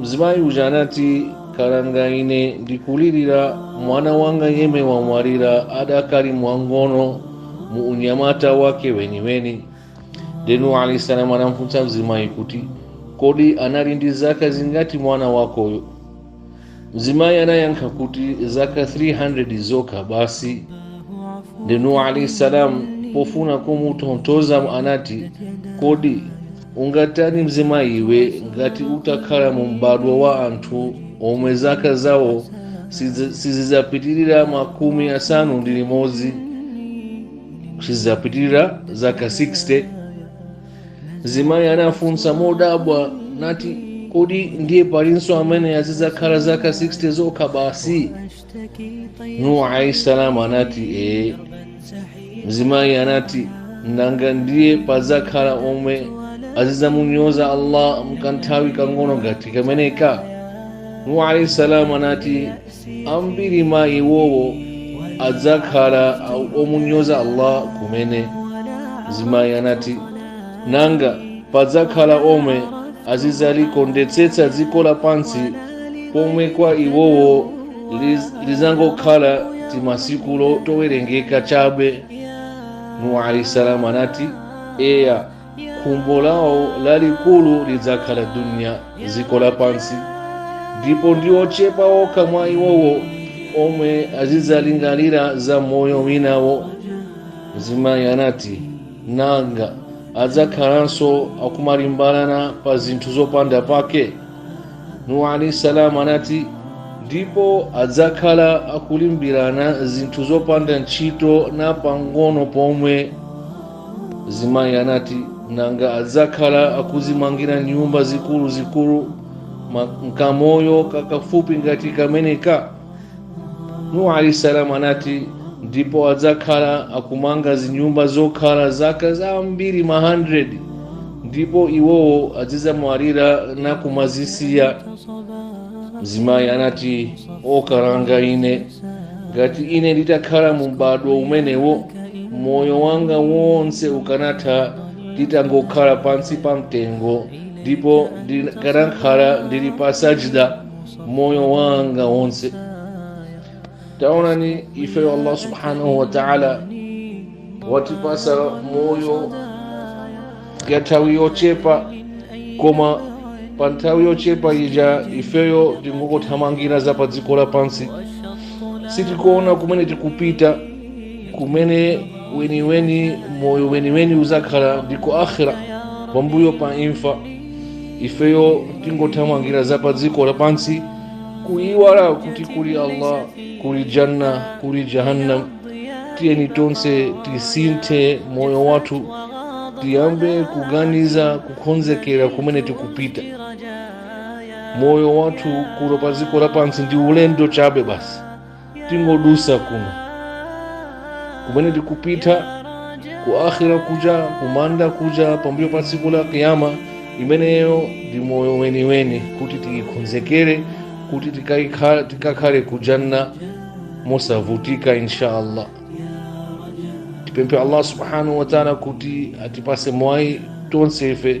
mzimayi uja anati kalanga ine ndikulirira mwana wanga yemwe wamwalira adakali wamng'ono mu unyamata wake weniweni ndiye Nuhu alaihi salamu anamfunsa mzimayi kuti kodi anali ndi zaka zingati mwana wakoyo mzimayi anayankha kuti zaka 300 zokha basi ndiye Nuhu alaihi salamu pofuna kumutonthoza anati kodi ungatani mzimayi iwe ngati utakhala mu m'badwo wa anthu omwe zaka zawo sizidzapitirira makumi asanu ndi limodzi sizidzapitirira zaka 60 mzimayi anafunsa modabwa nati kodi ndiye palinso amene azidzakhala zaka 60 zokha basi Nuhu alayhi salam anati ee mzimayi anati nanga ndiye padzakhala omwe azidzamunyoza allah mkanthawi kang'ono ngati kameneka nuhu alayhi salam anati ambiri mwa iwowo adzakhala omunyoza allah kumene mzimayi anati nanga padzakhala omwe azidzalikondetsetsa dziko lapansi pomwe kwa iwowo lizangokhala timasiku towerengeka chabe nuhu alaihi salamu anati eya khumbo lawo lalikulu lidzakhala duniya dziko lapansi ndipo ndi ochepa okha mwa iwowo omwe azidzalingalira za moyo winawo mzimayi anati nanga adzakhalanso akumalimbirana pa zinthu zopanda pake nuhu alaihi salamu anati ndipo adzakhala akulimbirana zinthu zopanda ntchito na pang'ono pomwe mzimayi anati nanga adzakhala akuzimangira nyumba zikuluzikulu mkamoyo kakafupi ngati kameneka nuhu alaihi salam anati ndipo adzakhala akumanga zinyumba zokhala zaka zambiri ma 100 ndipo iwowo azidzamwalira nakumazisiya mzimayi anati o kalanga ine ngati ine nditakhala mu m'badwo umenewo moyo wanga wonse ukanatha nditangokhala pansi pa mtengo ndipo ndikanakhala ndili pa sajida moyo wanga wonse taonani ifeyo allah subhanahu wa taala watipasa moyo ya nthawi yochepa koma pa nthawi yochepa ija ifeyo tingokothamangira za pa dziko lapansi sitikuona kumene tikupita kumene weniweni moyo weniweni uzakhala ndi ku akhira pambuyo pa imfa ifeyo tingothamangira za pa dziko lapansi kuiwala kuti kuli allah kuli janna kuli jahannam tiyeni tonse tisinthe moyo wathu tiyambe kuganiza kukonzekera kumene tikupita moyo wathu kuno pa dziko lapansi ndi ulendo chabe basi tingodusa kuno kumene tikupita ku akhira kuja kumanda kuja pambuyo pa tsiku la kiyama imeneyo ndi moyo weniweni kuti tiyikhonzekere kuti tikakhale kujanna mosavutika insha allah tipemphe allah subhanahu wataala kuti atipase mwayi tonse ife